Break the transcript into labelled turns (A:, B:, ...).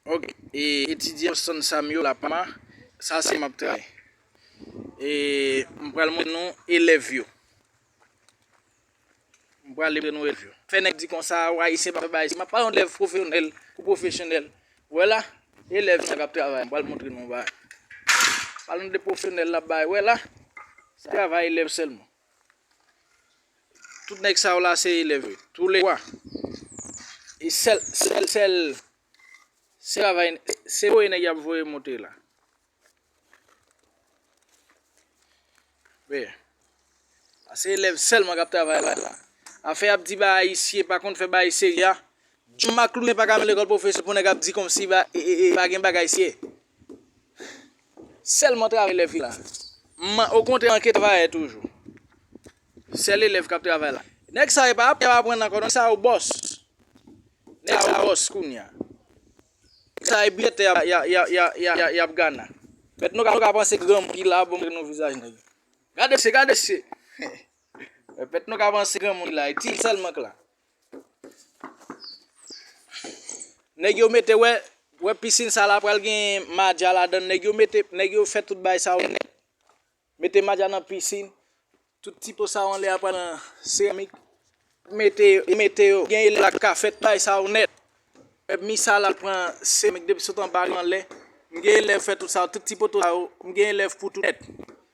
A: Ok e etidyan san sam yo la pama sa se map tray e m pral mwen nou elev yo m pral mwen nou elev yo fè nèg di konsa ou ayisyen pa fè bagay si map pran yon elev profeonèl ou profesyonèl wè la elev sa kap travay m pral montre nou yon bagay pale nou de profesyonèl la bay wè la se travay elev sèlman. Tout nèg sa yo la se elèv yo. Tou le 3. E sèl, sèl, sèl, se travay, se voye nèg y ap voye monte la. Veye. Se elèv sèlman k ap travay la. Afè y ap di ba ayisye pa konn fè bagay serye a, John Maclune paka nan lekòl pwofesè pou nèg ap di kòmsi pa gen bagay siye. Sèlman travay elèv ki la. M'en okontrè manke travayè toujou. Sèl elèv k'ap travay la. Nèg sa yo pa ap aprann ankò non, nèg sa yo bòs. Nèg sa yo bòs kounye a. Nèg sa yo biyè tè y'ap gana. Mèt nou ka panse granmoun ki la bon nou vizaj nèg. Gade mesye, gade mesye. Mèt nou ka panse granmoun ki la, ti sèlman k la. Nèg yo mete wè wè pisin sa la pral gen madja ladan nèg yo mete nèg yo fè tout bagay sa yo nèt mete madja nan pisin tout ti po sa yo anlè a pral nan seramik mete mete yo gen elèv la ka fè tout bagay sa yo nèt mi sa la pran seramik depi sot anba rive anlè m gen elèv fè tout sa yo tout ti poto sa yo m gen elèv pou tout nèt.